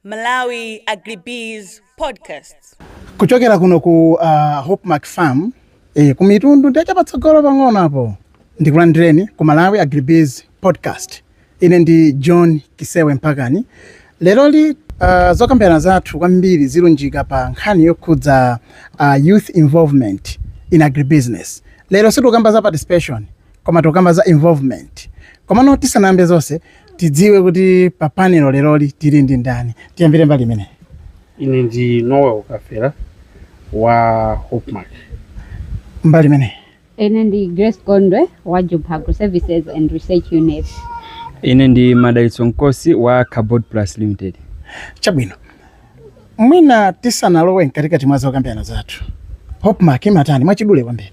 Malawi Agribiz Podcast. kuchokera kuno ku uh, hopmark farm eh, ku mitundu ndiye cha patsogolo pang'ono apo ndikulandireni ku malawi agribiz podcast ine ndi john kisewe m'phangeni leroli uh, zokambirana zathu kwambiri zilunjika pa nkhani yokhudza uh, youth involvement in agribusiness lero sitikukamba za participation koma tikukamba za involvement komano tisanayambe zonse tidziwe kuti pa panelo leroli tili ndi ndani tiyambire mbali imeneyi ine ndi noel kafera wa hopmark mbali imeneyi ine ndi grace gondwe wa jumpha agro services and research unit ine ndi madalitso mkosi wa carbod plus limited chabwino mwina tisanalowe mkatikati mwa zokambirana zathu hopmark imatani mwachidule kwambiri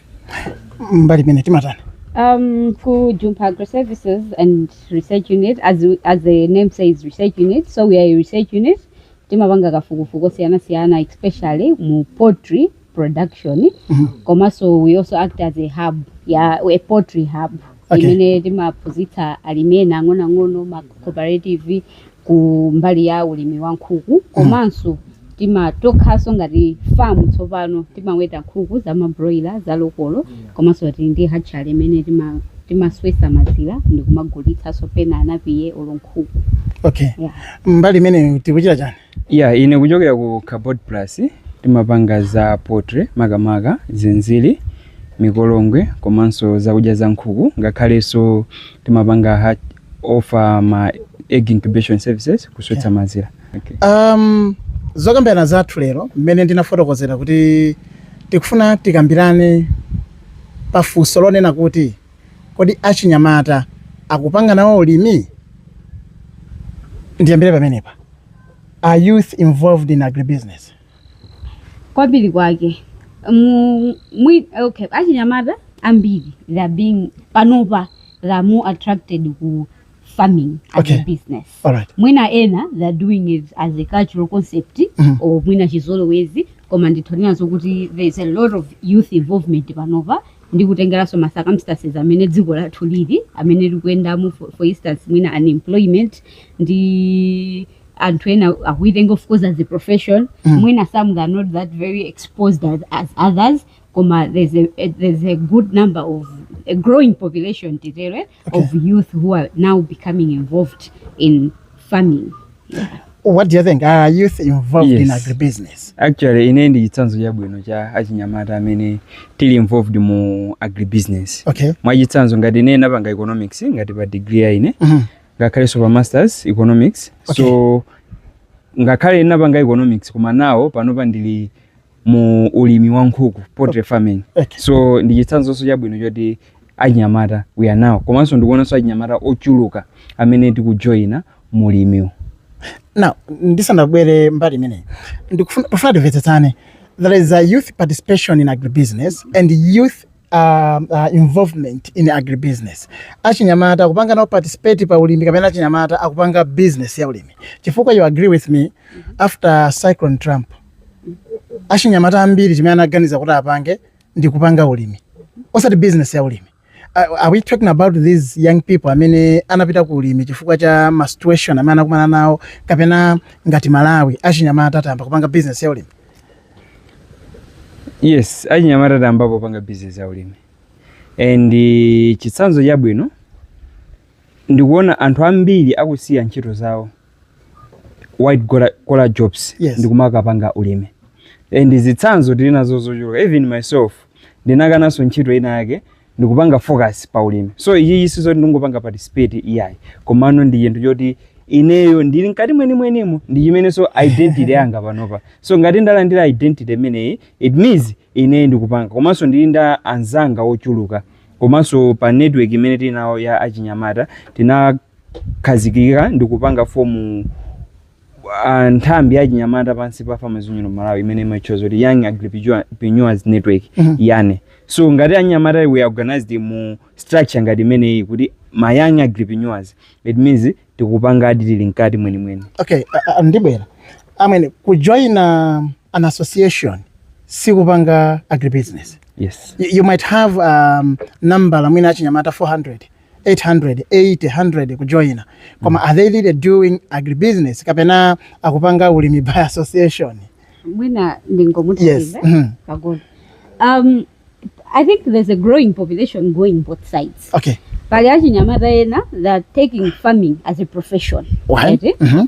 mbali imeneyi timatani Um, ku Jumpha Agro Services and Research Unit, as, we- as the name says, research unit. So we are a research unit. Timapanga kafukufuku osiyanasiyana, especially mu poultry production. Komanso we also act as a hub, yeah, a poultry hub. Okay. Imene timaphunzitsa alimi ena ang'onoang'ono ma cooperative ku mbali ya ulimi wa nkhuku komanso timatokhanso ngati farm tsopano timaweta nkhuku za mabroiler za lokolo komanso tili ndi hatchery imene tima timaswetsa mazira ndikumagulitsanso pena anapiye olo nkhuku okay Yeah. mbali imeneyo tikuchita chani ya ine kuchokera ku carbod plus timapanga za poultry makamaka zinziri mikolongwe komanso zakudya za nkhuku ngakhalenso timapanga ha- offer ma egg incubation services kuswetsa mazira. Okay. Um, zokambirana zathu lero mmene ndinafotokozera kuti tikufuna tikambirane pa funso lonena kuti kodi achinyamata akupanga nawo ulimi ndiyambire pamenepa are youth involved in agribusiness kwambiri kwake mu, mu, okay, achinyamata ambiri they are being panopa they are more attracted ku farming as okay. a business All right. mwina ena they are doing it as a cultural concept mm -hmm. or mwina chizolowezi koma nditha kunena kuti there is a lot of youth involvement panopa ndi kutengeranso ma circumstances amene dziko lathu lili amene likuyendamo for, for instance mwina unemployment ndi anthu ena akuitenga of course as a profession mm. mwina some they are not that very exposed as, as others koma there's a, a, there's a good number of a growing population titere eh, okay. of youth who are now becoming involved in farming yeah. what do you think are youth involved yes. in agribusiness actually ine ndi chitsanzo chabwino cha achinyamata amene tili involved mu agribusiness okay. mwachitsanzo ngati ine napanga economics ngati pa degree yanga mm -hmm. ngakhalenso pa masters economics okay. so ngakhale ndinapanga economics koma nawo panopa ndili mu ulimi wa nkhuku poultry farming okay. so ndi chitsanzonso chabwino choti achinyamata we are now komanso ndikuonanso achinyamata ochuluka amene tikujoyina mu ulimiwu now ndisanabwere mbali imeneyi ndikufuna pofuna timvetsetsane there is a youth participation in agribusiness and youth uh, uh, involvement in agribusiness achinyamata akupanga nawo participate pa ulimi kapena achinyamata akupanga business ya ulimi chifukwa you agree with me after cyclone trump achinyamata ambiri chimene anaganiza kuti apange ndi kupanga ulimi osati business ya ulimi Uh, are we talking about these young people amene anapita ku ulimi chifukwa cha ma situation amene anakumana nawo kapena ngati malawi achinyamata tayamba kupanga business ya ulimi Yes, achinyamata tayambapo kupanga bizinesi ya ulimi and eh, chitsanzo chabwino ndikuona anthu ambiri akusiya ntchito zawo white collar jobs Yes. ndikumakapanga ulimi and zitsanzo tili nazo zochuluka even myself ndinakananso ntchito ina yake ndikupanga focus pa ulimi so ichichi si choti ndikungopanga participate iyayi komano ndi chinthu choti ineyo ndili mkati mwenimwenimo ndi chimenenso identity yanga panopa so ngati ndalandira identity imeneyi it means ineyo ndikupanga komanso ndili ndi anzanga ochuluka komanso pa network imene tili nawo ya achinyamata tinakhazikika ndikupanga form a, nthambi ya achinyamata pansi pa Farmers Union of Malawi imene imatchedwa kuti Young Agripreneurs Network YAN so ngati anyamata we are organized mu structure ngati imeneyi kuti ma young agripreneurs it means tikupangadi tili mkati mwenimwenimo okay a- a- ndibwera amwene kujoina an association sikupanga agribusiness yes you, you might have um, number ya mwina achinyamata 400 800 80 100 kujoina koma mm. are they really doing agribusiness kapena akupanga ulimi by association mwina ndingomutaive yes. mm -hmm. um, i think there's a growing population going both sides okay pali achinyamata ena they are taking farming as a profession right? mm -hmm.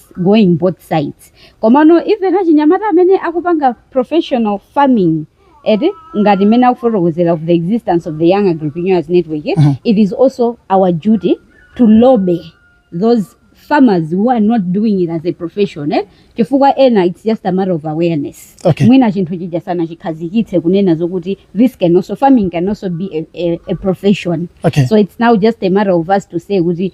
going both sides komano even achinyamata amene akupanga professional farming eti ngati mmene akufotokozera of the existence of the young agripreneurs network eh, Mhm. it is also our duty to lobby those farmers who are not doing it as a profession eh? chifukwa ena it's just a matter of awareness Okay. mwina chinthu chija sana chikhazikitse kunena zokuti this can also farming can also be a, a, a profession Okay. so it's now just a matter of us to say kuti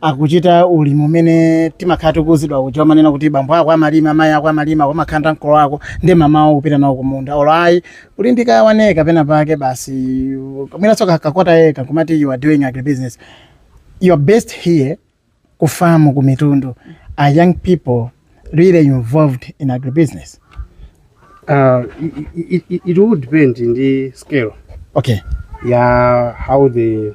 akuchita ulimi umene timakhala tikuuzidwa kuja umanena kuti bambo ako amalima mayi ako amalima umatenga mkolo wako ndi m'mamawa kupita nawo kumunda olo ayi uli ndi ka one acre pena pake basi mwinanso ka- ka quarter acre kumati you are doing agribusiness you are based here ku farm ku Mitundu are young people really involved in agribusiness Uh, it, it, it would depend on the scale okay ya how the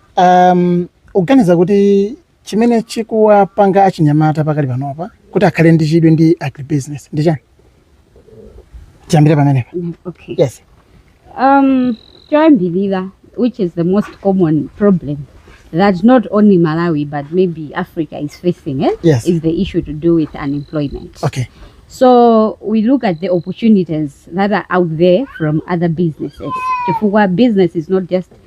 Um, mukuganiza kuti chimene chikuwapanga achinyamata pakadali panopa kuti akhale ndi chidwi ndi agribusiness ndi chani tiyambire pamenepa Mm, okay yes um choyambirira which is the most common problem that not only malawi but maybe africa is facing eh, Yes. is the issue to do with unemployment okay So we look at the opportunities that are out there from other businesses. Chifukwa business is not just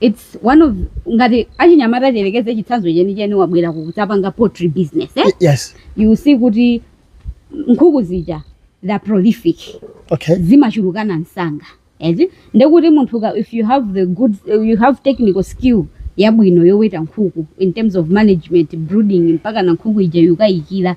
It's one of ngati achinyamata tiyerekeze chitsanzo chenicheni wabwera ukudzapanga poultry business eh? yes you see kuti nkhuku zija they are prolific okay zimachulukana msanga ezi nde kuti munthu ka- if you have the good you have technical skill yabwino yoweta nkhuku in terms of management brooding mpakana nkhuku ija ikuyikira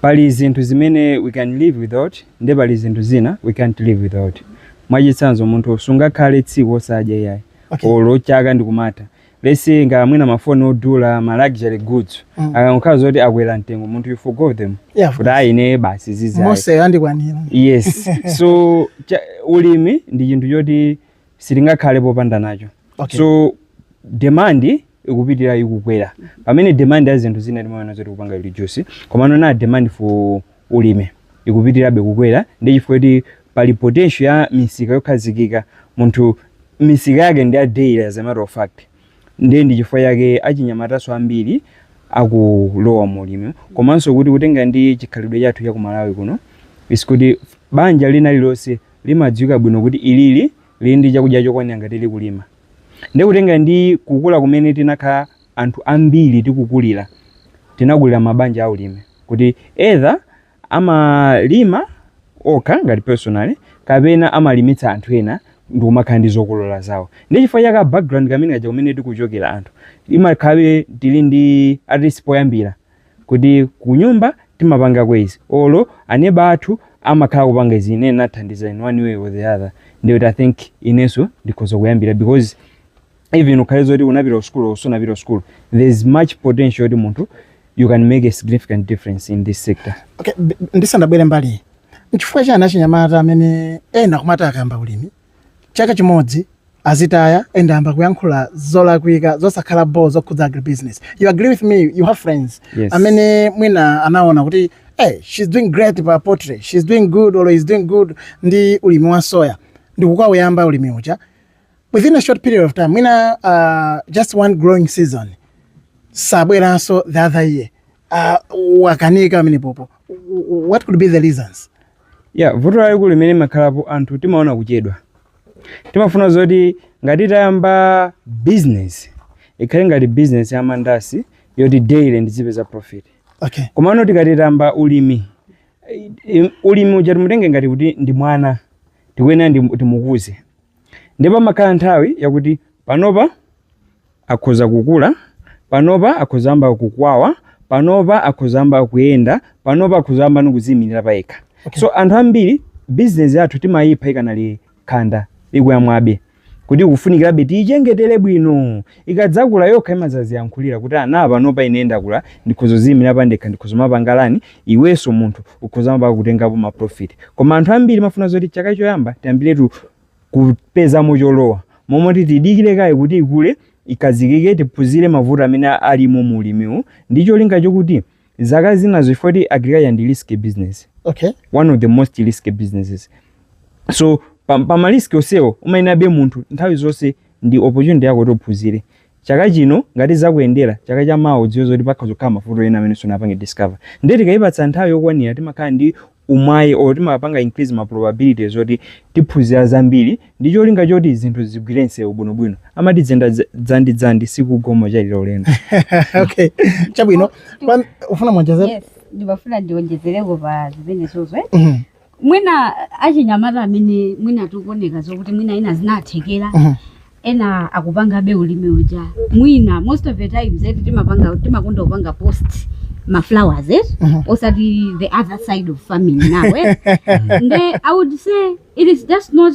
Pali zinthu zimene we can live without nde pali zinthu zina we can't live without. Mwachitsanzo munthu sungakhale tsiku osadya iyayi Okay. olo chaka ndikumatha. Let's say ngati mwina mafoni odula, ma luxury goods. Mm. Akangokhala zoti akwera mtengo munthu you forgo them. Yeah, of Kuti course. ayi ine basi zizi ayi. Mose yandikwanira. Yes. so ulimi ndi chinthu choti sitingakhale popanda nacho. Okay. so demand ikupitira ikukwera pamene demand ya zinthu zina timaona zoti kupanga reduce komano demand for ulimi ikupitirabe kukwera ndiye chikutanthauza kuti pali potential ya misika yokhazikika munthu misika yake ndi ya daily as a matter of fact ndiye ndi chifukwa yake achinyamatanso ambiri akulowa mu ulimi komanso kuti kutenga ndi chikhalidwe chathu cha ku malawi kuno is kuti banja linalililonse limadziwika bwino kuti ilili lili ndi chakudya chokwanira ngati likulima. Ndiye kutengera ndi kukula kumene tinakhala anthu ambiri tikukulira, tinakulira mabanja aulimi kuti either amalima okha ngati personally kapena amalimitsa anthu ena ndikumakhala ndi zokolola zawo. Ndiye chifukwa cha background imene ija kumene tikuchokera anthu, timakhala tili ndi at least poyambira kuti kunyumba timapangako izi olo aneba athu amakhala akupanga izi ine nathandiza in one way or the other ndiye kuti i think inenso ndikhoza kuyambira because even ukhale zoti unapita kusukulu olo sunapita kusukulu there is much potential yoti munthu you can make a significant difference in this sector Okay, b- ndisandabwere mbali n'chifukwa chani achinyamata amene ena kumati akayamba ulimi chaka chimodzi azitaya and ayamba kuyankhula zolakwika zosakhala bho zokhudza agribusiness you agree with me you have friends Yes. amene mwina anaona kuti hey, she's doing great pa poultry she's doing good or is doing good ndi ulimi wa soya ndikukauyamba ulimi uja within a short period of time mwina uh, just one growing season sabweranso the other year uh, wakanika amene pompo what could be the reasons Yeah, vuto lalikulu limene limakhalapo anthu timaona kuchedwa. Timafuna zoti ngati tayamba business ikhale ngati business ya mandasi yoti daily ndizipeza profit. Okay. Komano tikati tayamba ulimi eh, eh, ulimi uja timutenge ngati kuti ndi mwana tikuyenera ndi- timukuze. Ndipo pamakhala nthawi yakuti panopa akhoza kukula, panopa akhoza kuyamba kukwawa, panopa akhoza kuyamba kuyenda, panopa akhoza kuyamba nikuziyimirira payekha. Okay. So anthu ambiri business yathu timayipha ikanali khanda ikuyamwabe kuti ikufunikirabe tiyichengetele bwino ikadzakula yokha imazaziyankhulira kuti ana panopa ine ndakula ndikhoza kuziyimirira pandekha ndikhoza kumapanga plan iwenso munthu ukhoza kumapanga kutengapo ma profit koma anthu ambiri timafuna zoti chaka choyamba tiyambiretu kupezamo cholowa. M'malo moti tidikire kaye kuti ikule, ikhazikike, tiphunzire mavuto amene alimo mu ulimiwu ndi cholinga chokuti zaka zinazo chifukwa kuti agriculture ndi risky business. Okay. One of the most risky businesses. So pa, pa ma risk onsewo umayenabe munthu nthawi zonse ndi opportunity yako kuti uphunzire. chaka chino ngati zakuyendera chaka cha mawa udziwe zoti pakhoza kukhala mavuto ena amene sunapange discover ndiye tikayipatsa nthawi yokwanira timakhala ndi umwayi or timapanga increase ma probabilities oti tiphunzira zambiri ndi cholinga choti zinthu zigwire msewu bwinobwino amati kuyenda dza- dzandi dzandi sikugwa koma kuchalira ulendo okay chabwino Pam- mufuna muonjezere yes ndimafuna ndionjezereko pa zimenezozo Mhm. mwina achinyamata amene mwina zikuoneka zokuti mwina ena zinawathekera Mhm. ena akupangabe ulimi uja mwina most of the times eti timapanga timakonda kupanga post ma flowers eh? Mhm. osati the other side of farming now eh? nde i would say it is just not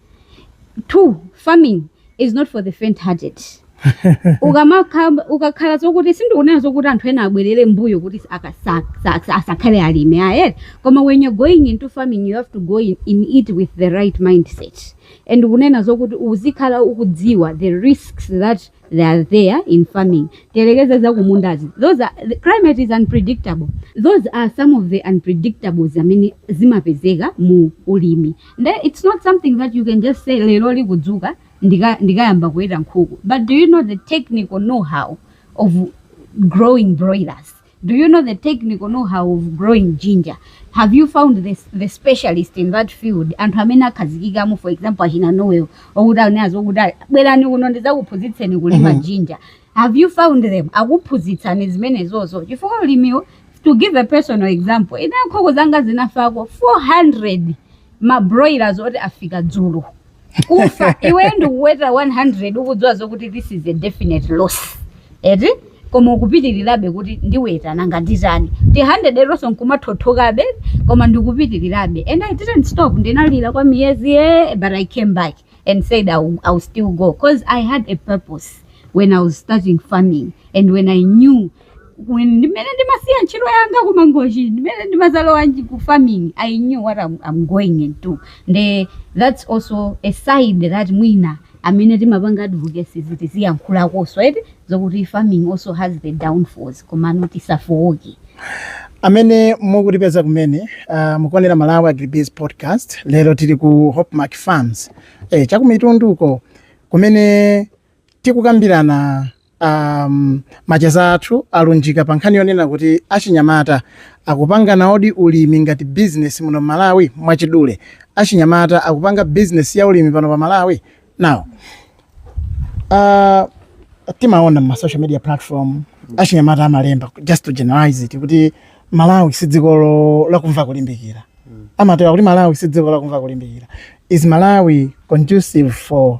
too farming is not for the faint hearted ukamakha- ukakhala zokuti sindikunena zokuti anthu ena abwerere mbuyo kuti aka- sa- sa- sa- asakhale alimi aye koma when you're going into farming you have to go in, in it with the right mindset and kunena zokuti uzikhala ukudziwa the risks that they are there in farming tiyerekeze zakumundazi those are, the climate is unpredictable those are some of the unpredictables amene zimapezeka mu ulimi nde it's not something that you can just say lero ndikudzuka ndika- ndikayamba kuweta nkhuku but do you know the technical know how of growing broilers Do you know the technical know how of growing ginger? Have you found the, the specialist in that field? Anthu amene akhazikikamo for example achina Noel okuti anena zokuti ali- bwerani kuno ndizakuphunzitseni kulima Mhm. ginger. Have you found them? Akuphunzitsani zimenezozo. Chifukwa ulimiwu to give a personal example. Ine nkhuku zanga zinafako 400 ma broilers oti afika dzulo. kufa iwe ndikuweta 100 ukudziwa zokuti this is a definite loss eti koma ukupitirirabe kuti ndiweta nanga nditani ti 100 eti onso nkumathothokabe koma ndikupitirirabe and i didn't stop ndinalira kwa miyezi eh but i came back and said I will, I will still go because i had a purpose when i was starting farming and when i knew When ndimene ndimasiya ntchito yanga ku Mangochi ndimene ndimazalowanji ku farming I knew what I'm, I'm going into nde that's also a side that mwina amene timapanga advocacy zitiziyankhulakonso eti zokuti farming also has the downfalls komano tisafowoke amene mukutipeza kumene uh, mukuonera Malawi Agribiz podcast lero tili ku hopmark farms eh, chakumitunduko kumene Tikukambirana um, macheza athu alunjika pa nkhani yonena kuti achinyamata akupanganawodi ulimi ngati business muno Malawi mwachidule. Achinyamata akupanga business ya ulimi pano pa Malawi. Now, uh, timaona ma social media platform achinyamata amalemba just to generalize it kuti Malawi si dziko lakumva kulimbikira. Amatero kuti Malawi si dziko lakumva kulimbikira. Is Malawi conducive for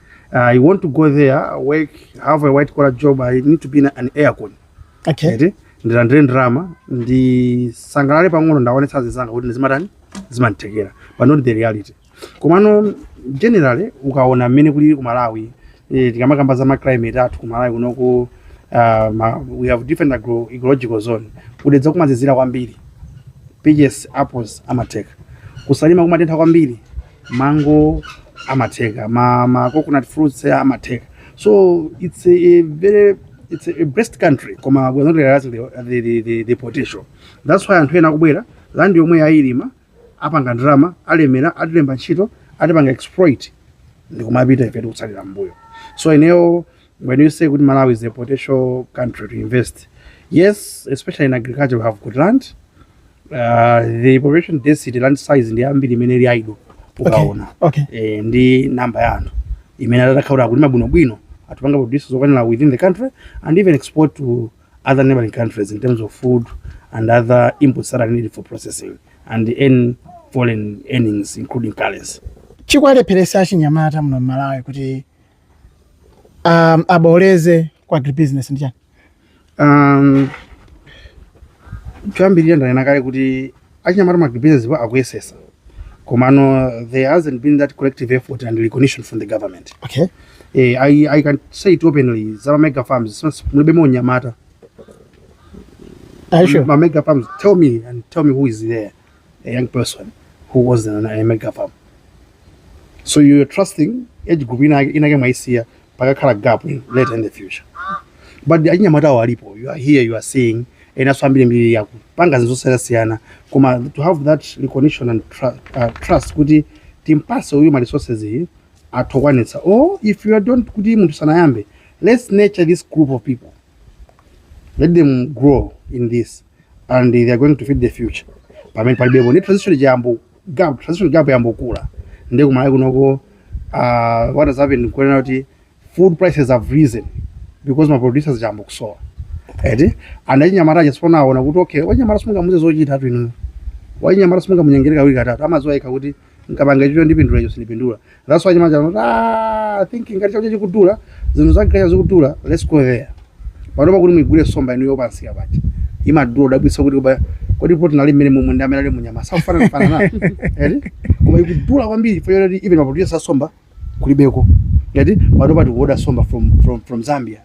I want to go there, work, have a white collar job. I need to be in an aircon. okay Eti, ndilandire ndalama ndisangalale pang'ono ndiwaonetse azinzanga kuti ndi zimatani zimatheka but not the reality komano generally ukaona mmene kulili ku malawi eh, tikamakamba za maclimate athu ku malawi kunoku uh, ma, we have different agro, ecological zone kudedza kumazizira kwambiri peaches apples amatheka kusalima kumatentha kwambiri mango amatheka ma, ma coconut fruits eh, amatheka so it's a, a very it's a, a blessed country koma we're not realizing the, the, the, the, the potential that's why anthu ena akubwera land yomweyo ayilima apanga ndalama alemera atilemba ntchito atipanga exploit ndikumapita ife tikutsalira mbuyo so ineyo When you say good Malawi is a potential country to invest, yes, especially in agriculture, we have good land. Uh, the population density, land size, ndi ambiri imene ili idle ukaona okay. eh, ndi namba ya anthu imene atakhaura kulima bwinobwino atupanga produce zokwanira within the country and even export to other neighboring countries in terms of food and other inputs that are needed for processing and earn foreign earnings including currency. chikuwalepheresa achinyamata muno mmalawi kuti Um, aboleze kwa agribusiness ndi chani? Um, choyambirira ndanena kale kuti achinyamata ma agribusiness po akuyesesa komano there hasn't been that collective effort and recognition from the government okay. eh, I, I can say it openly zama mega farms since mulibe monyamata Are you sure? ma mega farms tell me and tell me who is there a young person who has a mega farm so you're trusting age group inake inake mwaisiya pakakhala gap in later in the future but achinyamatawo alipo you are here you are seeing enaso ambirimbiri akupanga zinthu zosiyanasiyana koma to have that recognition and tru uh, trust kuti timpase uyu ma resources iyi athokwanitsa or if you don't kuti munthu sanayambe let's nurture this group of people let them grow in this and they are going to feed the future pamene palibepo ndi transition gap transition gap yayamba kukula ndi kumalawi kunoko uh, what has happened kuonera kuti food prices have risen because ma producers ayamba kusowa eti and achinyamata achasopano aona kuti okay wachinyamata simungamuze zochitatu inu wachinyamata simungamunyengere kawiri katatu amadziwa yekha kuti nkapanga icho ndipindula icho sindipindula that's why achinyamata ah thinking ngati chakudya chikudula zinthu zakudya zikudula let's go there panopa kuti mugule somba inu yopatsika paja imadula kudabwitsa kuti kodi protein ali mmenemomu ndi amene ali munyama zikufanana fanana eti koma ikudula kwambiri chifukwa choti even maproducer asomba kulibeko ngati pano tikuoda somba from, from, from zambia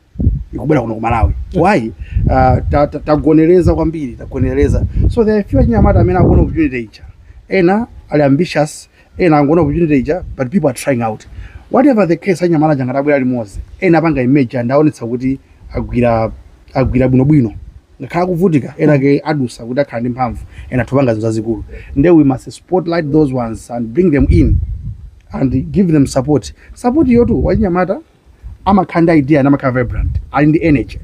ikubwera kuno ku malawi why uh, ta- ta- tagonereza kwambiri tagonereza so there are few achinyamata amene akuona opportunity ija ena ali ambitious ena angoona opportunity ija but people are trying out whatever the case achinyamata aja ngati abwera limodzi ena apanga emerge ndi aonetsa kuti agwira agwira bwinobwino ngakhale akuvutika enaake adusa kuti akhala ndi mphamvu ena atha kupanga zinthu zazikulu nde we must spotlight those ones and bring them in and give them support support yoti achinyamata amakhala ndi idea namakhala vibrant ali ndi energy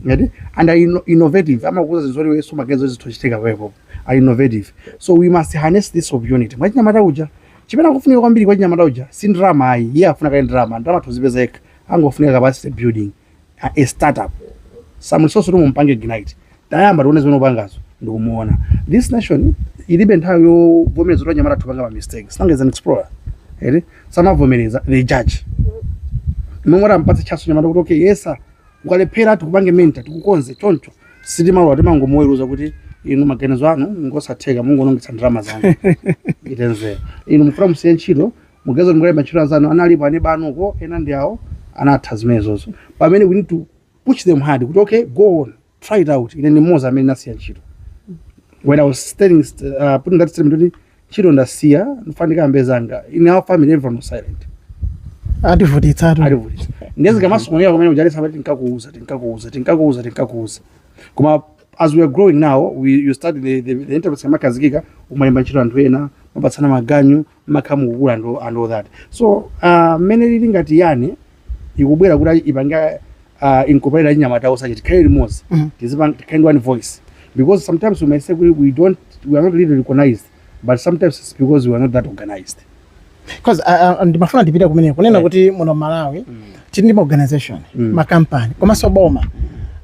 ngati and are inno- innovative amakuza zinthu zoti weso makezo zithochitika kwepo are innovative so we must harness this opportunity mwachinyamata uja chimene akufunika kwambiri kwachinyamata uja si ndrama ayi iye safuna kaye ndrama ndrama adzipeza yekha angofunika capacity building a, a startup stimulus kuti mumpange ignite tayamba tione zimene ukupangazo ndikuona this nation ilibe nthawi yovomereza kuti anyamata athu apanga ma mistake sinanga he's an explorer ere samavomereza they judge mongoti ampatse chance mnyamata kuti okay yesa ukalephera tikupange mentor tikukonze choncho sitimalowa timangomuweruza kuti inu maganizo anu ngosatheka mungonongitsa ndalama zanu itenzera inu mufuna musiye ntchito mupeze kuti mukalembe ntchito anzanu analipo aneba anu uko ena ndi awo anatha zimenezozo pamene we need to push them hard kuti okay go on try it out ine ndi mmodzi amene ndasiya ntchito when i was telling uh, putting that statement kuti ntchito ndasiya ndikufuna ndiyambe zanga in our family everyone was silent ativutitsa atu alivutisa ndezi kamasomera kumene ujalesa pati tinkakuuza tinkakuuza tinkakuuza tinkakuuza koma as we are growing now we, you started the, the, the enterprise kamakhazikika umalemba ntchito anthu ena mapatsana maganyu mumakhala mukukula and, all- and all that so ah, mmene uh, ilili ngati yani ikubwera kuti ipange uh, incorporate achinyamata so that tikhale limodzi Mhm. tizipanga tizikhala ndi one voice because sometimes we may say kuti we, we don't we are not really recognized but sometimes it's because we are not that organized Because, ah, ah, ndimafuna ndipite kumeneko kunena Eh. kuti muno m'malawi tili ndi maorganization Mm. makampani komanso boma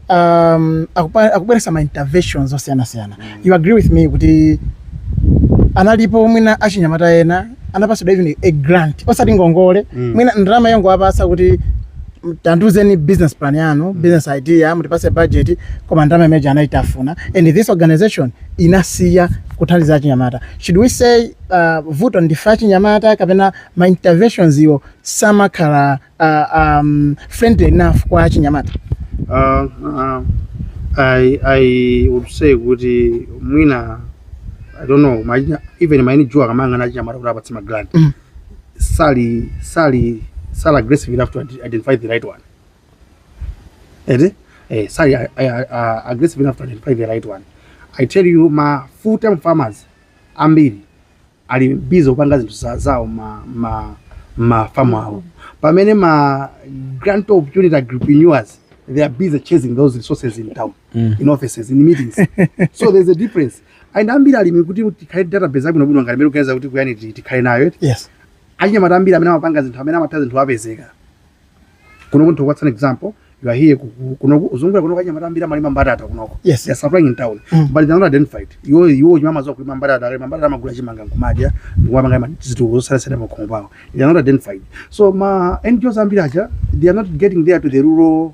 um, akupa- akubweretsa ma interventions osiyanasiyana you agree with me kuti analipo mwina achinyamata ena anapatsidwa even a grant osati ngongole Mm. mwina ndalama yongowapatsa kuti mm, tandiuzeni business plan yanu business idea mutipatse budget koma ndalama imeneyi anaitafuna and this organization inasiya kuthandiza achinyamata should we say uh, vuto ndife achinyamata kapena ma interventions awo samakhala uh, um, friendly enough kwa achinyamata Uh, uh, I, I would say kuti mwina I don't know maina, even maini juu akamanga na chama kuti apatse magland Mhm. sali sali sali aggressive enough to ide- identify the right one eti eh, sali uh, uh, aggressive enough to identify the right one I tell you ma full time farmers ambiri ali busy kupanga zinthu za- zawo ma ma ma farm awo pamene ma grant opportunity agripreneurs they are busy chasing those resources in town Mm. in offices in meetings so there's a difference and ambiri alimi kuti tikhale database abwino bwino ngati mmene mukuganiza kuti kuyani ti- tikhale nayo eti yes achinyamata ambiri amene amapanga zinthu amene amatha zinthu apezeke kuno kunto what's an example you are here kuno uzungura kuno kanyamata ambira mali mambata ata kuno yes they are suffering in town mm. but they are not identified you you you mama zo kulima mambata ata mambata ama kula chimanga kumadya ngwa manga zitu zo sala sala makongo bawo they are not identified so ma NGOs ambira aja they are not getting there to the rural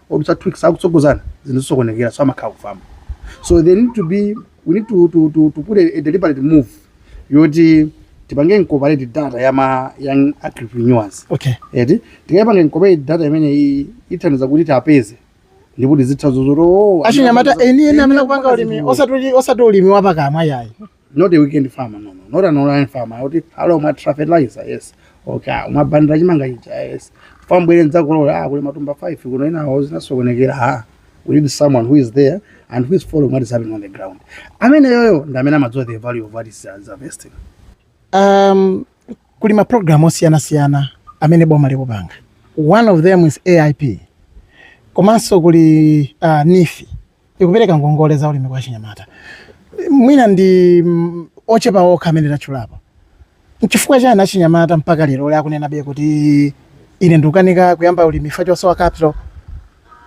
odutsa twix akutsogozana zinthu zisokonekera so amakhala akufamba so they need to be we need to, to, to, to put a, a deliberate move yoti tipange incorporate data ya ma young entrepreneurs okay eti tikayipanga incorporate data imene i- ithandiza kuti tiwapeze ndipo tizitha zozoto achinyamata eni eni amene akupanga ulimi osati osati ulimi wapakamwa ayi not a weekend farmer no no not an online farmer kuti halo mwathira fertilizer yes okay ah, mwabandira chimanga chija yes fambwere ndidzakolola ah kuli matumba 5 kuno inawo zinasokonekera ah we need someone who is there and who is following what is happening on the ground ameneyoyo ndi amene amadziwa the value of what he's uh, harvesting um, kuli ma program osiyanasiyana amene boma likupanga one of them is aip komanso kuli uh, neef ikupereka ngongole za ulimi kwa achinyamata mwina ndi mm, ochepa okha amene tatchulapo nchifukwa chani achinyamata mpaka lero lero akunenabe kuti ine ndikukanika kuyamba ulimi chifukwa chosowa capital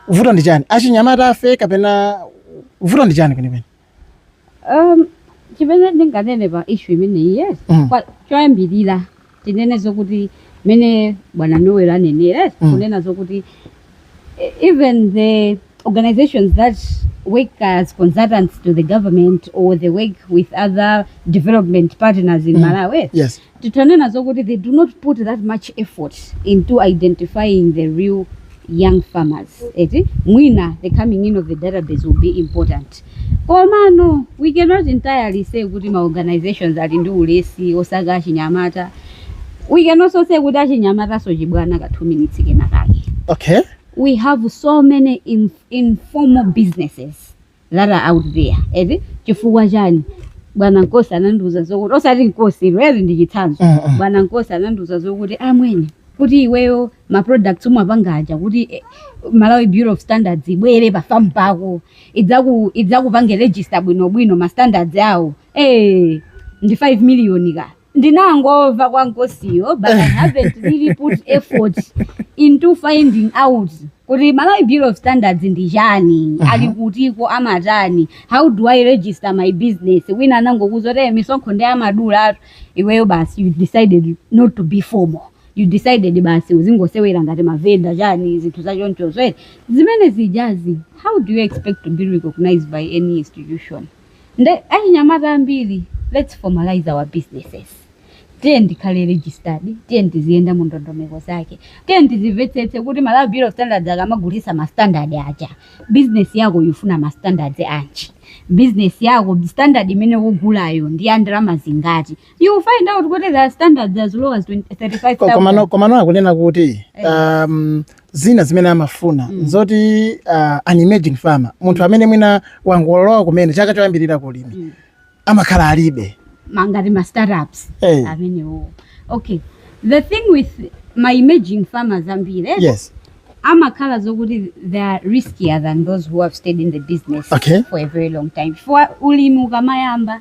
vuto ndi chani achinyamata afe kapena vuto ndi chani kwenikweni um, chimene ndinganene pa issue imeneyi yes Mm. Kwa- choyambirira tinene zokuti mene bwana noel anenera yes, mm. kunena zokuti e, even the organizations that work as consultants to the government or they work with other development partners in mm. malawi yes. titanena zokuti they do not put that much effort into identifying the real young farmers eti mwina the coming in of the database will be important Komano we cannot entirely say kuti ma organisations ali ndi ulesi osaka achinyamata, we can also say kuti achinyamatanso chibwana ka 2 minutes kenakake. Okay. We have so many in, informal businesses that are out there. Eti chifukwa chani? Bwana Nkosi anandiuza zokuti osati Nkosi iweyo eti ndi chitsanzo. Mm, mm. Bwana Nkosi anandiuza zokuti amwene kuti iweyo ma products umapanga aja kuti eh, Malawi Bureau of Standards ibwere pa farm pako idzaku idzakupange register bwino bwino ma standards awo eh ndi 5 million ka ndinangomva kwa nkosiyo but I haven't really put effort into finding out kuti Malawi Bureau of Standards ndi chani ali kutiko amatani how do I register my business wina anangokuuza kuti "Eh, misonkho ndi amadulatu iweyo basi you decided not to be formal you decided basi uzingosewera ngati mavenda chani zinthu zachonchozo eti zimene zijazi how do you expect to be recognized by any institution nde achinyamata ambiri let's formalize our businesses tiyeni tikhale registered tiyeni tiziyenda mu ndondomeko zake tiyeni tizimvetsetse kuti malawi bureau of standards akamagulitsa ma standard aja business yako ikufuna ma standards anji business yako standard imene ukugulayo ndi ya ndalama zingati You will find out kuti there are standards as low as 20, 35,000. Komano, komano akunena kuti eh. um, zina zimene amafuna mm. zoti uh, an emerging farmer munthu amene mwina wangolowa kumene chaka choyambirira ku ulimi mm. amakhala alibe ngati ma startups hey. Eh. amenewo okay the thing with ma emerging farmers ambiri eh? yes amakhala zokuti they are riskier than those who have stayed in the business okay. for a very long time for ulimi ukamayamba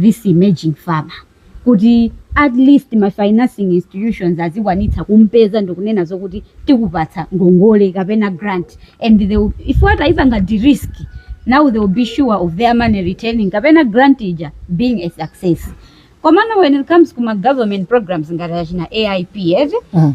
this emerging farmer kuti at least ma financing institutions azikwanitsa kumpeza ndikunena zokuti tikupatsa ngongole kapena grant and they will, if atayipanga de-risk now they will be sure of their money returning kapena grant ija being a success komano when it comes kuma government programs ngati achina AIP eti Mm.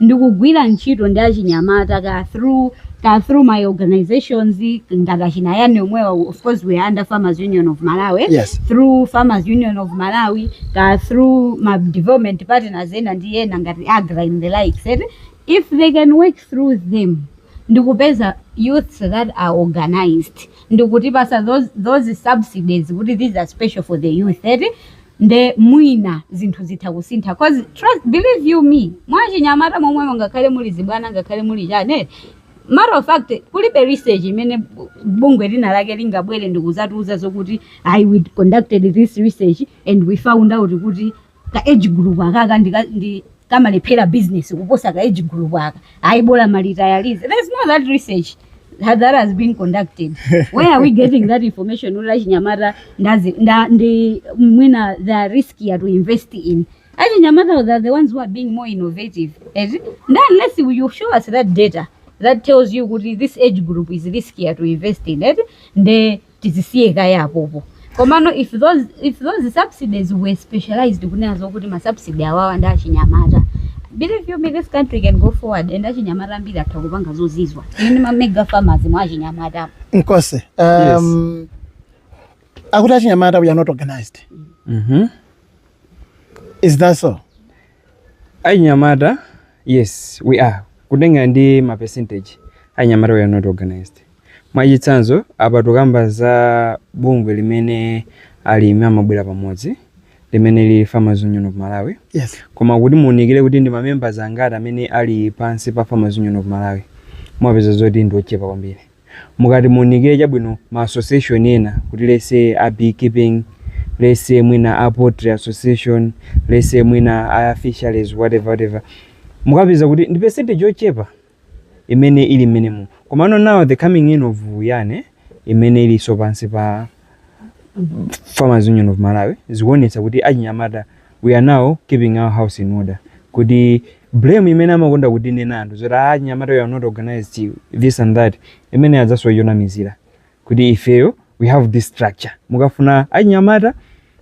ndi kugwira ntchito ndi achinyamata kaya through kaya through my organizations ngati achina yani omwewa of course we are under farmers union of malawi Yes. through farmers union of malawi kaya through ma development partners ena ndi ena ngati agra and the likes eti if they can work through them ndikupeza youths that are organized ndikutipasa those, those subsidies kuti these are special for the youth eti nde mwina zinthu zitha kusintha coz trust believe you me mwachinyamata momwemo ngakhale muli zibwana ngakhale muli chani eh, matter of fact kulibe research imene bu- bungwe linalake lingabwere ndikuzatiuza zokuti ayi we conducted this research and we found out kuti ka age group akaka ndika- ndi kamalephera business kuposa ka age group aka ayi bola malitayalize there's no that research that that has been conducted where are we getting that information ula chinyamata ndazi nda ndi mwina they are riskier to invest in achinyamata they are the ones who are being more innovative eti and unless you you show us that data that tells you kuti this age group is riskier to invest in eti nde tizisiye kaye apopo komano if those, if those subsidies were specialized kunena zokuti ma subsidy awawa ndi achinyamata believe you me this country can go forward and achinyamata ambiri atha kupanga zozizwa ine ma mega farmers mwa achinyamata nkose um, akuti achinyamata we are not organized Mhm. is that so achinyamata yes we are kutengana ndi ma percentage achinyamata we are not organized Mwachitsanzo, apa tikukamba za bungwe limene alimi amabwera pamodzi limene lili Farmers Union of Malawi. Yes. Koma kuti muunikire kuti ndi mamembers angati amene ali pansi pa Farmers Union of Malawi, mumapeza zoti ndi ochepa kwambiri. Mukati muunikire chabwino ma association ena kuti let's say a beekeeping, let's say mwina a poultry association, let's say mwina a fisheries whatever whatever. Mumapeza kuti ndi percentage yochepa imene ili mmenemo. Komano now the coming in of yani imene ilinso pansi pa Farmers Union of Malawi zikuonetsa kuti achinyamata we are now keeping our house in order kuti blame imene amakonda kutinena anthu zoti ah, achinyamata we are not organized this and that imene adzasowe chonamizira kuti ifeyo we have this structure mukafuna achinyamata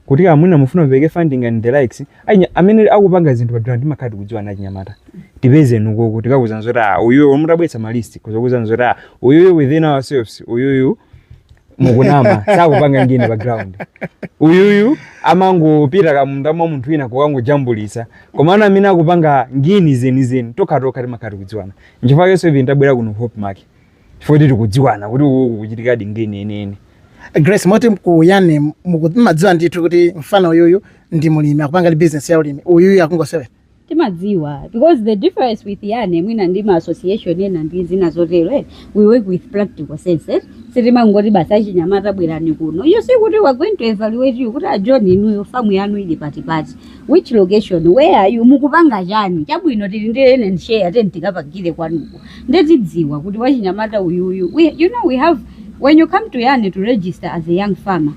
kuti ah, mwina mufuna mupereke funding and the likes achinya- amene akupanga zinthu padera timakhala tikudziwana achinyamata tipezeni ukoko tikakuuzani zoti ah, uyuyo mutabweretsa malisti tizakuuzani zoti ah, uyuyo within ourselves uyuyu mukunama sakupanga ngini pa ground uyuyu amangopita kamunda mwa munthu wina kukangojambulisa koma ana amene akupanga ngini zenizeni tokhatokha timakhala tikudziwana nchifukwa yonse ivi tabwera kuno hope make chifukwa kuti tikudziwana kuti uku kukuchitikadi ngeni yeniyeni grace moti ku YAN timadziwa ndithu kuti mfana uyuyu ndi mulimi akupangadi business ya ulimi uyuyu akungosewera timadziwa because the difference with YAN mwina ndi ma association ena ndi zina zotero eh, we work with practical sense eh. sitimangoti basi achinyamata bwerani kuno iyayi sikuti we're going to evaluate you kuti a john inuyo famu yanu ili patipati Which location? Where are you? Mukupanga chani? Chabwino tili ndi ene and share teni tikapagire kwanuko. Nde tidziwa kuti wachinyamata uyuyu. We, you know we have when you come to Yane to register as a young farmer,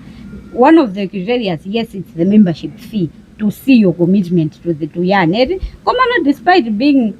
one of the criteria is yes it's the membership fee to see your commitment to the to Yane. Koma no despite being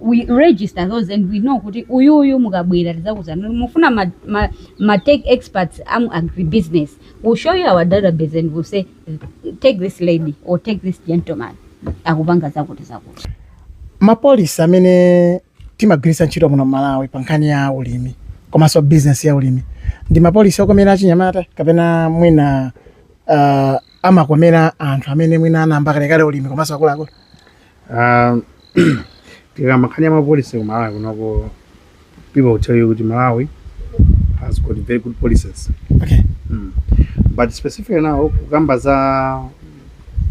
we register those and we know kuti uyuyu mukabwera tizakuzana mufuna ma, ma, ma tech experts a mu agribusiness we'll show you our database and we'll say take this lady or take this gentleman akupanga zakuti zakuti mapolisi amene timagwiritsa ntchito muno m'Malawi pa nkhani ya ulimi komanso bizinesi ya ulimi ndi mapolisi okomera achinyamata kapena mwina uh, amakomera anthu amene mwina anayamba kalekale ulimi komanso akuluakulu Um, tikakamba nkhani ya mapolisi ku malawi kunoko people will tell you kuti malawi has got very good policies okay mm. but specifically now kukamba za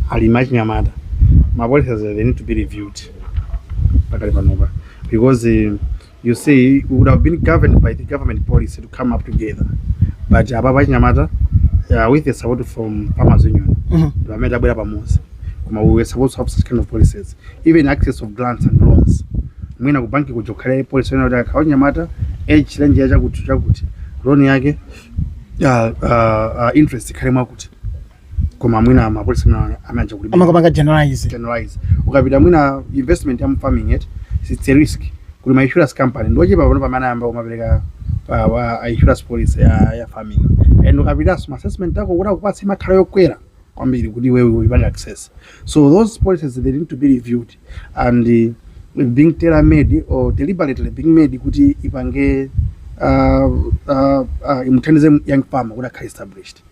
alimi achinyamata mapolicies they need to be reviewed pakali panopa because eh, You see, we would have been governed by the government policy to come up together. But ababa achinyamata uh, with the support from Farmers Union, Mhm. vamene tabwera pamodzi. Koma we were supposed to have such kind of policies. Even access of grants and loans. Mwina ku banki kuja kukhale policy yonena kuti akawa nyamata age range ya chakuti chakuti loan yake uh, uh, uh, interest ikhale mwakuti. koma mwina mapolisi mwina aja kulibe amakapanga generalize generalize ukapita mwina investment ya mu farming yet it's a risk kuli ma insurance company ndo chepa pano pamene ayamba kumapereka pa wa insurance policy ya, ya farming and ukapita ma assessment ako kuti akupatse imakhala yokwera kwambiri kuti iwewe upange access so those policies they need to be reviewed and uh, being tailor made or deliberately being made kuti ipange uh, uh, uh, imuthandize young farmer kuti akhale established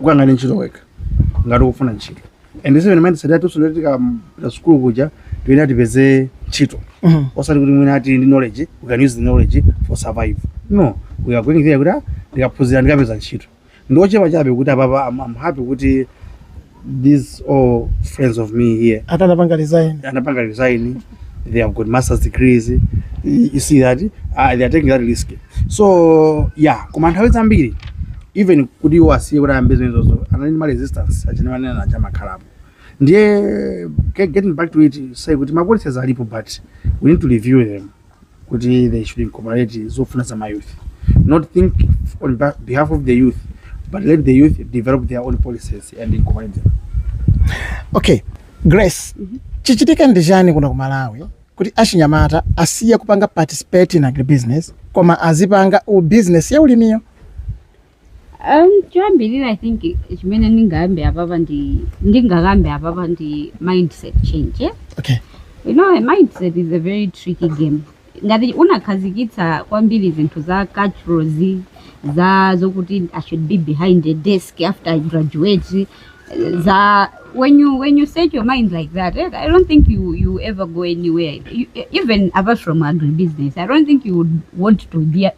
ukaganize ntchito wekha ngati ukufuna ntchito and zimene timatsatira tonse ndoti tikapita sukulu kuja tuyenera tipeze ntchito Mhm. osati kuti mwina tili ndi knowledge we can use the knowledge for survive no we are going there kuti ah, ndikaphunzira ndikapeze ntchito ndiochepa chabe kuti apapa I'm, I'm happy kuti these all friends of me here ati anapanga resign anapanga resign they have got masters degrees you you see that uh, they are taking that risk so yeah koma nthawi zambiri even kuti iwo asiye kuti ayambe zimenezozo anali ndi ma resistance achinawanena aja amakhalapo ndiye ge- getting back to it say kuti ma policies alipo but we need to review them kuti they should incorporate zofuna za mayouth not think on ba- behalf of the youth but let the youth develop their own policies and incorporate them okay grace chichitike ndi chani kuno ku malawi kuti achinyamata asiye kupanga participate in agribusiness koma azipanga business ya ulimiyo Um, choyambirira i think chimene ndingayambe apapa ndi ndingakambe apapa ndi mindset change eh? okay you know a mindset is a very tricky game ngati unakhazikitsa kwambiri zinthu za culture zi za zokuti i should be behind a desk after i graduate eh, za when you when you set your mind like that eh, i don't think you you'll ever go anywhere you, even apart from agribusiness i don't think you would want to be a-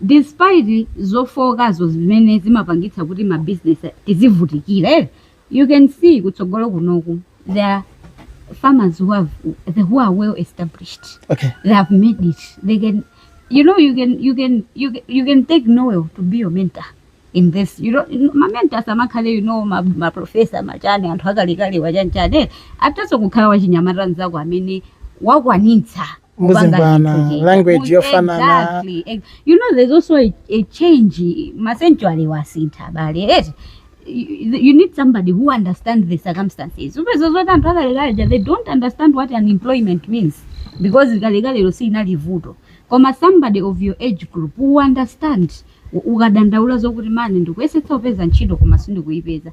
despite zofookazo zimene zimapangitsa kuti ma business tizivutikira eti you can see kutsogolo kunoko there are farmers who have the who are well established okay they have made it they can you know you can you can you can, you can take noel to be your mentor in this you know ma mentor samakhala you know ma, ma professor ma chani anthu akalekale wachanichani athanso kukhala wachinyamata mzako amene wakwanitsa Muzimvana, Kupanga language kucheka. yofanana. Exactly. Ex- You know there's also a, a change ma century wo asintha abale eti you you need somebody who understands the circumstances upeza zoti anthu akalekaleja they don't understand what unemployment means because kalekalelo siinali vuto koma somebody of your age group who understand u- ukadandaula zokuti mani ndikuyesetsa kupeza ntchito koma sindikuyipeza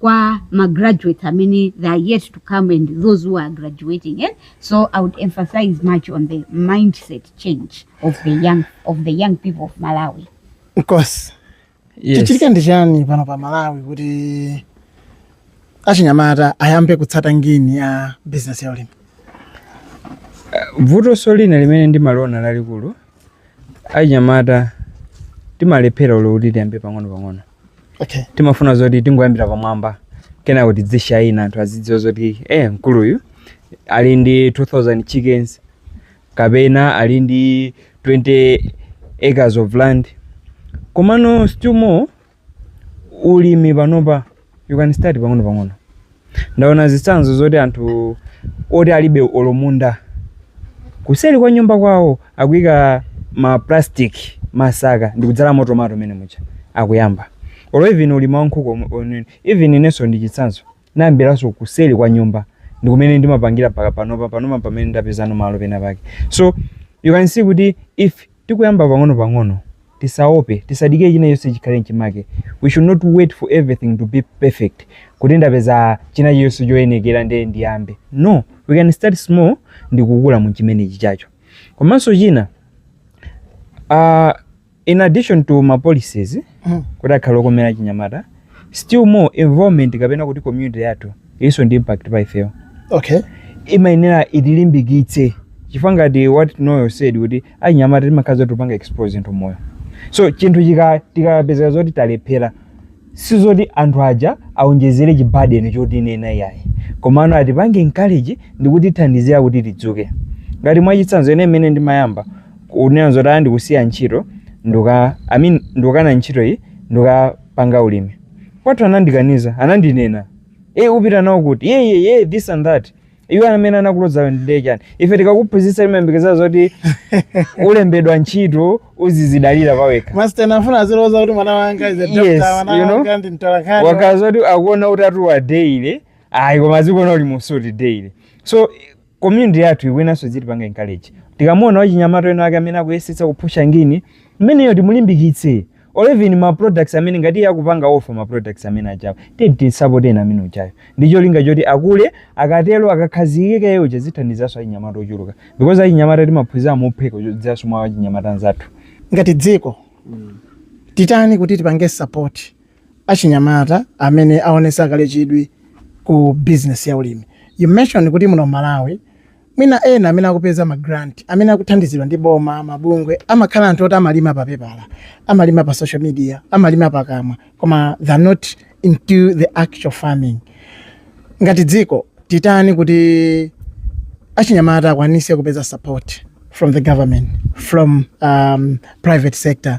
kwa ma graduates amene they are yet to come and those who are graduating eh? so i would emphasize much on the mindset change of the young, of the young people of malawi nkosi yes. chichitike ndi chani pano pa malawi kuti achinyamata ayambe kutsata ngini ya bizinesi ya ulimi vutonso lina limene ndimaliona lalikulu achinyamata timalephera olo kuti tiyambire pang'onopang'ono okay timafuna zoti tingoyambira pamwamba kenako tidzishayina anthu azidziwa zoti eh mkuluyu ali ndi 2000 chickens kapena ali ndi 20 acres of land komano still more ulimi panopa you can start pang'ono pang'ono ndaona zitsanzo zoti anthu oti alibe olo munda kuseri kwa nyumba kwawo akuyika ma plastic masaka ndikudzalamo tomato mene muja akuyamba olo even ulimi wa nkhuku omwe- omwe- even inenso ndi chitsanzo ndinayambiranso kuseri kwa nyumba ndikumene ndimapangira mpaka panopa panopa pamene ndapezano malo pena pake so you can see kuti if Tikuyamba pang'ono pang'ono. Tisaope. Tisadikire china chilichonse chikhale mchimake. We should not wait for everything to be perfect kuti ndapeza china chilichonse choyenekera nde ndiyambe. No! We can start small ndi kukula mu chimenechi chacho. Komanso china, aah, in addition to ma policies, mm. kuti akhale okomera achinyamata still more environment kapena kuti community yathu ilinso ndi impact pa ifeyo okay imayenera itilimbikitse chifukwa ngati what noyo said kuti achinyamata timakhala zoti tupanga expose zinthu moyo so chinthu chika- tikapezeka zoti talephera si zoti anthu aja aonjezere chibadeni choti inena iyayi komano atipange encourage ndi kutithandizira kuti tidzuke ngati mwachitsanzo ine imene ndimayamba kunena zoti ayi ndikusiya ntchito nduka- I mean ndikukana ntchito iyi ndikapanga ulimi kwathu anandikaniza anandinena eee upita nawo kuti ye ye ye this and that iwe amene anakulozayo ndi ndani ife tikakuphunzitsa timayembekezera zoti ulembedwa ntchito uzizidalira pawekha Masteni amafuna aziloza kuti mwana wanga is a doctor, Yes, mwana you know, wanga ndi mtolankhani. osati zoti azikuona utatuwa daily ayi koma azikuona uli mu suti daily so Community yathu ikuyeneranso idzitipanga encourage. Tikamuona wachinyamata wina wake amene akuyesetsa kuphusha ngini, mmeneyo timulimbikitse. Or even ma products amene ngati iye akupanga offer ma products amene ajawo, tiyeni timsapoteni amene ujayo. Ndi cholinga choti akule, akatero akakhazikika iye uja zithandizanso achinyamata ochuluka. Because achinyamata timaphunzira mophweka kudzera mwa achinyamata anzathu. Ngati dziko, titani kuti tipange support achinyamata amene awonesa kale chidwi ku business ya ulimi. You mentioned kuti muno m'Malawi mwina ena amene akupeza ma grant amene akuthandizidwa ndi boma, mabungwe amakhala anthu oti amalima pa pepala, amalima pa social media, amalima pakamwa koma they are not into the actual farming. Ngati dziko titani kuti achinyamata akwanise kupeza support from the government, from um, private sector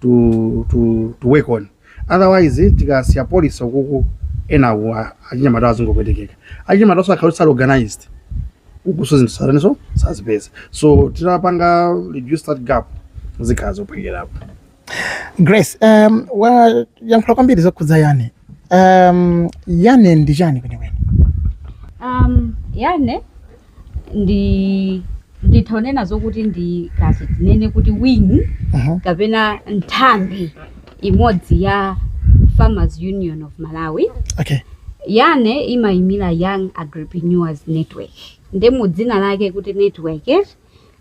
to to to work on otherwise tikasiya policy uko enawo a- achinyamata azingopwetekeka achinyamatawonso akakhala oti sali organized ukonso zinthu satani nso sazipeza so titapanga reduce that gap zikhala zophwekerako grace um, wayankhula kwambiri zokhudza yane um, yane ndi chani kwenikweni um, yane ndi nditha kunena zokuti ndi ngati tinene kuti wing Aha. kapena nthambi imodzi ya farmers union of malawi okay yane imayimira young agripreneurs network nde mu dzina lake kuti network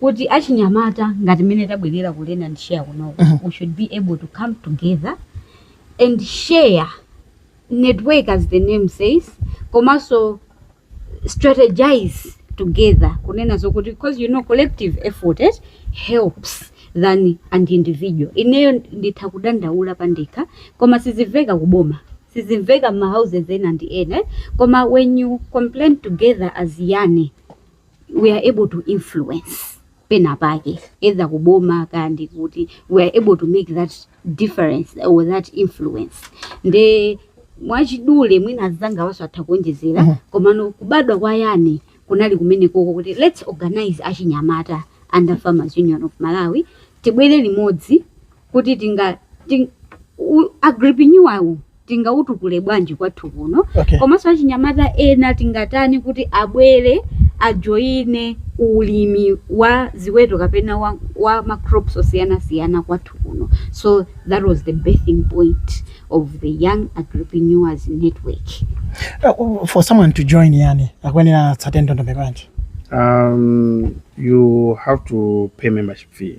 kuti achinyamata ngati mmene tabwerera ku learn and share kunoko Mhm. we should be able to come together and share network as the name says komanso strategize together kunena zokuti because you know collective effort eh, helps than an individual ineyo nditha kudandaula pandekha koma sizimveka kuboma sizimveka mmahouses ena ndi ena eh, koma when you complain together as yane we are able to influence pena pake either kuboma kaya ndi kuti we are able to make that difference or that influence nde mwachidule mwina azangawaso atha kuonjezera Mhm. komano kubadwa kwa yani kunali kumene koko kuti let's organize achinyamata under farmers union of malawi tibwere limodzi kuti tinga ting, u- agripreneur tingautukule bwanji kwathu kuno Okay. komanso achinyamata ena tingatani kuti abwere ajoyine ulimi wa ziweto kapena wa, wa macrops osiyanasiyana kwathu kuno so that was the birthing point of the young agripreneurs network Uh, for someone to join yani akuyenera atsate ndondomeko yanji um, you have to pay membership fee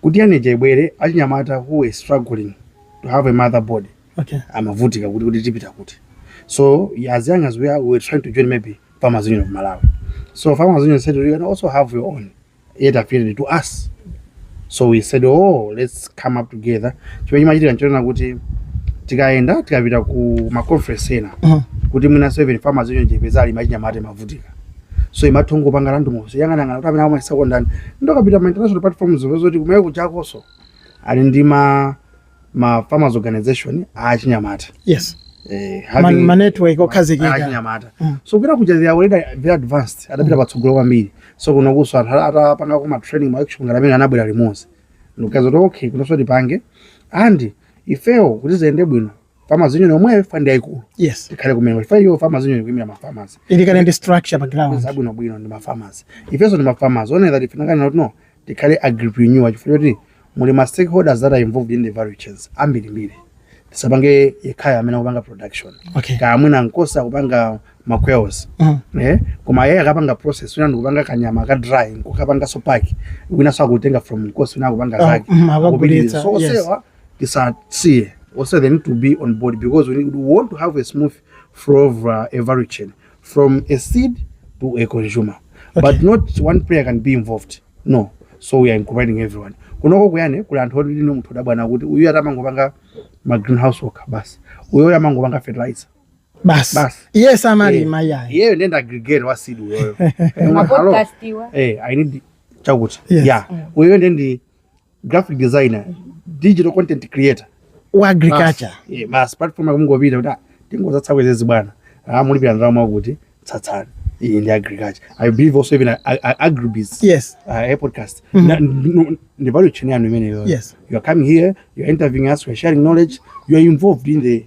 kuti yani ija ibwere achinyamata who were struggling to have a mother body okay amavutika kuti kuti tipita kuti so as young as we are we were trying to join maybe farmers union of malawi so farmers union said you can also have your own yet appeared to us so we said oh let's come up together chimene chimachitika nchonena kuti tikayenda tikapita ku maconference ena Mhm. kuti mwinanso even farmers union tipeza alimo achinyamata amavutika so imatha kungopanga randomly kuyang'anayang'ana kuti amene amayesa kondani ndikapita ma international platforms zoti kumayiko akunjakoso ali ndi ma ma farmers organization achinyamata yes eh, Man, having- ma network okhazikika achinyamata Mm. so kuita kuja they are already very advanced adapita patsogolo kwambiri so kunokoso anthu ata- atapanga kuma training ma workshop ngati amene anabwera limodzi ndikuganiza kuti okay kunonso tipange ndi ifewo kuti ziyende bwino farmers union omweyo FUM yaikulu yes tikhale kumene FUM yo farmers union kuimira ma farmers ili kale ndi structure pa ground zabwino bwino ndi ma farmers ifenso ndi ma farmers one that ifinangana not no tikhale agripreneur chifukwa choti muli ma stakeholders that are involved in the value chains ambirimbiri tisapange yekhayo amene akupanga production okay kaya mwina nkosa akupanga maquails Mhm. eh koma yeye akapanga process wina ndikupanga kanyama ka dry nkukapanga so pack wina so akutenga from nkosi wina akupanga Ah, zake mhm, akagulitsa, Akupitiriza. so yes. onsewa tisasiye also they need to be on board because we, need, we want to have a smooth flow of uh, a value chain from a seed to a consumer okay. but not one player can be involved no so we are incorporating everyone kunoko kuyani kuli anthu oti ine munthu udabwa kuti uyu ati amangopanga ma greenhouse worker basi uyoyo amangopanga fertilizer basi basi iye samalima eh, iyayi iyeyo ndiye ndi aggregator wa seed uyoyo eh, eh, i need chakuti yeah mm. uyoyo ndiye ndi graphic designer digital content creator wa agriculture yeah, basi platform yakungopita kuti ah, tingozatsa kwezezi bwana ah, mulipira ndalama akuti tsatsani iyi ndi agriculture i believe also even agribis yes uh, a podcast mm -hmm. ndi value chain yanu imeneyo yes you are coming here you are interviewing us we are sharing knowledge you are involved in the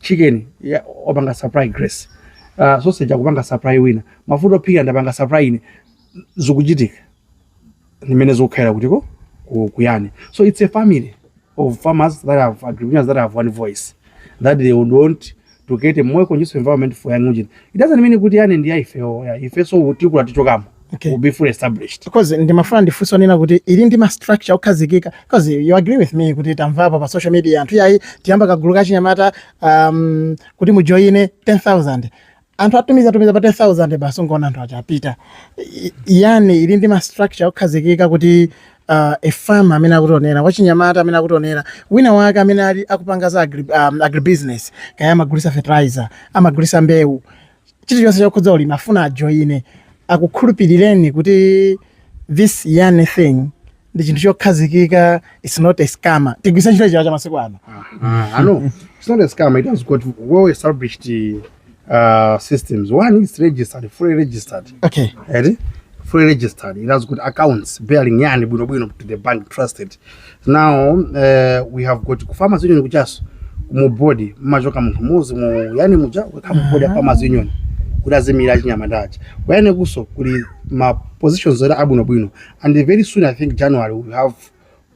chicken akupanga supply grace uh, sausage akupanga supply wina mafuta ophikira ndapanga supply ine zikuchitika ndimmene zikukhalira kuti ku- kuyani so it's a family of farmers that are agripreneurs that have one voice that they would want to get a more conducive environment for YAN it doesn't mean kuti yani ndi ya ifewo ya ifeso tikula tichokamo okay. will be fully established because ndimafuna ndifunse ponena kuti ili ndi ma structure okhazikika because you agree with me kuti tamvapo pa social media anthu yayi tiyamba kagulu kachinyamata um, kuti mujoine ndi 10000 anthu atumiza atumiza pa 10000 basi ungoona anthu aja apita yane ili ndi ma structure okhazikika kuti uh, a farmer amene akutionera wachinyamata amene akutionera wina wake amene ali akupanga za agri, um, agribusiness kaya amagulisa fertilizer amagulisa mbewu chilichonse chokhudza ulimi afuna ajoyine akukhulupirireni kuti this young thing ndi chinthu chokhazikika it's not a scammer tigwisa ntchito chiwa cha masiku ano Ah, I know. It's not a scam. It has got well established uh, systems. One is registered, fully registered. okay Right? Fully registered. It has got accounts bearing yani bwino bwino to the bank trusted. now uh, we have got ku farmers union kutchaso mu board mumachoka munthu mmodzi mu yane muja kukhala mu board ya farmers union kuti aziimira achinyamata chani kuyane kuso kuli ma positions oti abwinobwino and very soon i think january we have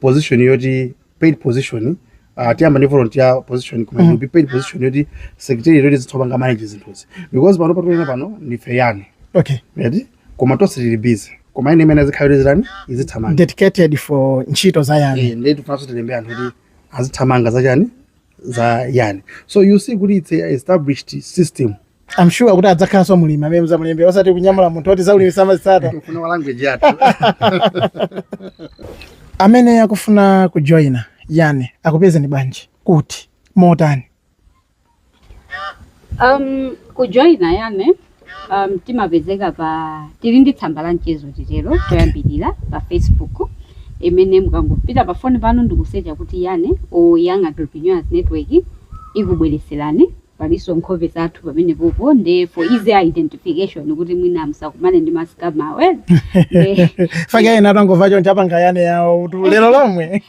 position yoti paid position uh, tiyamba ndi volunteer position koma it will be paid position yoti secretary yoti azitipanga manage zinthuzi because pano patokha pano ndife yane okay ready koma tonse tili busy koma ine imene izikhala kuti izitani izithamanga dedicated for ntchito za yane Eh, ndiye tifunanso tilembe munthu kuti azithamanga za chani za yane so you see kuti it's a established system I'm sure kuti adzakhalanso mulimi amene mudzamulembe osati kunyamula munthu oti zaulimi samazitsata tifuna wa language yathu amene akufuna kujoyina yane akupezeni bwanji kuti, motani Um, kujoyina yane um, timapezeka pa tili ndi tsamba la mchezo titero choyambirira pa facebook imene mukangopita pa foni panu ndikusecha kuti yane or young agribusiness network ikubwereserani palinso nkhope zathu pamene popo nde for easy identification kuti mwina musakumane ndi ma scammer awa a fake ena atangomva choncho apanga yane yawo kuti lero lomwe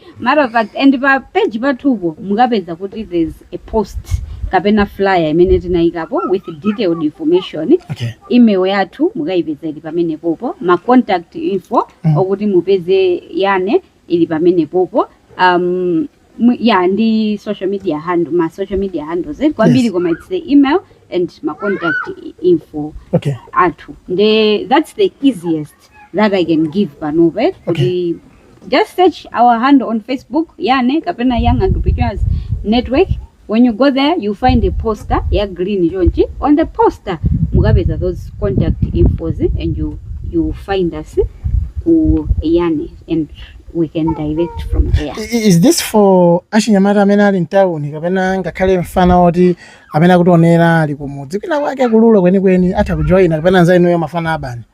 As a matter of fact, and pa page pathupo mukapeza kuti there's a post kapena flyer imene tinayikapo with detailed information okay. email yathu mukayipeza ili pamene popo ma contact info mm. okuti mupeze yane ili pamene popo um, ya ndi social media handle ma social media handles eh, kwambiri yes. koma it's the email and ma contact info okay. athu nde that's the easiest that I can give panopa eh? Okay. kuti just search our handle on facebook yane kapena young agribusiness network when you go there you find a poster ya green chonchi on the poster mukapeza those contact infos and you, you find us ku yane and we can direct from there I- i- is this for achinyamata amene ali mtawuni kapena ngakhale mfana woti amene akutionera ali kumudzi kwina kwake kulula kwenikweni atha kujoyina kapena nza inuyo mafana a urban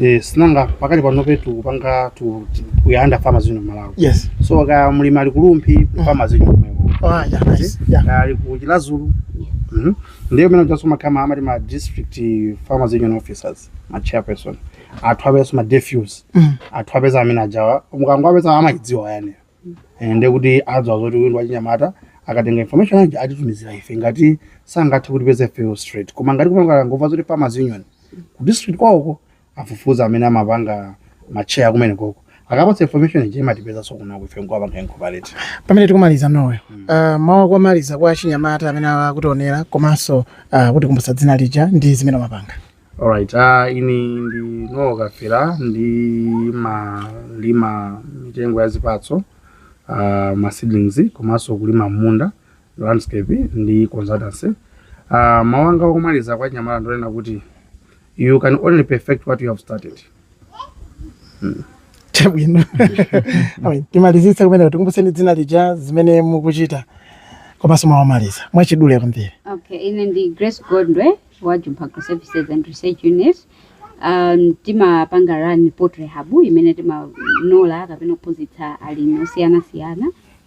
Eh, sinanga pakali panope tikupanga tu- ti- we are under farmers union Malawi. yes So kaya mlimi ali ku Rumphi farmers union kumeneko. ah yeah nice yeah Kaya ali ku Chiradzulu. Mhm. Ndiye amene ajaso makamaka amati ma district farmers union officers, ma chairperson. Atha apezeso ma DFUs. Mm. Atha kupeza amene ajawa. Mukangowapeza amaidziwa yane. Eh, ndiye kuti adziwa zoti uyu ndi wachinyamata akatenga information aja atitumizira ife ngati sangathe kutipeza ifeyo straight koma ngati kumangokhala ngovuta zoti farmers union ku district kwawoko afufuza amene amapanga macheya akumeneko akapatsa information ija imatipezanso kunoko ife nkuwapanga incorporate pamene tikumaliza Noel uh, mawu akumaliza kwa achinyamata amene akutiwonera komanso uh, kutikumbutsa dzina lija ndi zimene amapanga Alright, uh, ine ndi Noel Kafira ndimalima mitengo ya zipatso uh, ma seedlings komanso kulima mmunda landscape ndi consultancy. Uh, mawu anga omaliza kwa anyamata ndi onena kuti you can only perfect what you have started. Hmm. Chabwino. Timalizitse komwe tikumbuseni dzina lija zimene mukuchita komanso mawu omaliza mwachidule kwambiri. Okay, ine ndi Grace Gondwe wa Jump Agro Services and Research Unit um, timapanga run poultry hub imene timanola kapena kuphunzitsa alimi osiyanasiyana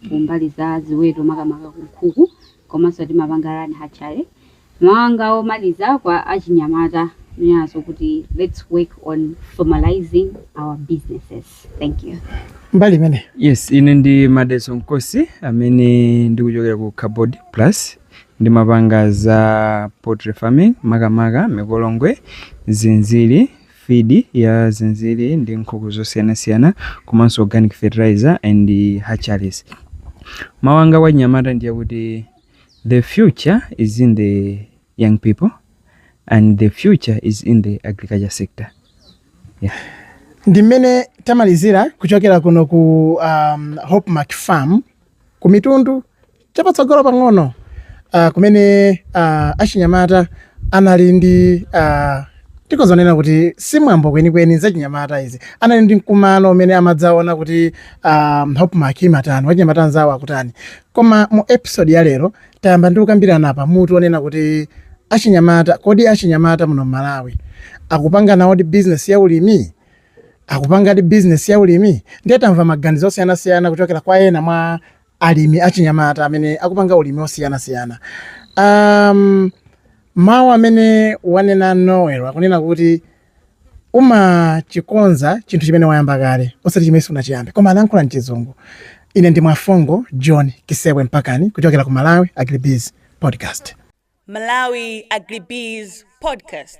kumbali ya ziweto makamaka kunkhuku komanso timapanga run hatchery mawu anga omaliza kwa achinyamata ndi oti let's work on formalizing our businesses thank you mbali imene yes ine ndi Madaliso Nkosi amene ndikuchokera ku carbod plus Ndimapanga za poultry farming makamaka mikolongwe, zinziri, feed ya zinziri ndi nkhuku zosiyanasiyana komanso organic fertilizer and hatcheries. Mawu anga kwa achinyamata ndi akuti the future is in the young people and the future is in the agriculture sector. Yeah. Ndi mmene tamalizira kuchokera kuno ku um, Hope Mark Farm ku Mitundu Chapatsogolo pang'ono uh, kumene uh, achinyamata anali ndi uh, tikhoza kunena kuti si mwambo kwenikweni zachinyamata izi anali ndi mkumano umene amadzaona kuti um, hope mark imatani wachinyamata anzawo akutani koma mu episode ya lero tayamba ndi kukambirana pa mutu onena kuti achinyamata kodi achinyamata muno mmalawi akupanganawodi business ya ulimi akupangadi business ya ulimi ndiye tamva maganizo osiyanasiyana kuchokera kwa ena mwa alimi achinyamata amene akupanga ulimi wosiyanasiyana um, mawu amene wanena noel akunena kuti umachikonza chinthu chimene wayamba kale osati chimene sunachiyambe koma anayankhula mchizungu ine ndi Mwafungo john kisewe mpakani kuchokera ku malawi agribiz podcast Malawi Agribiz Podcast.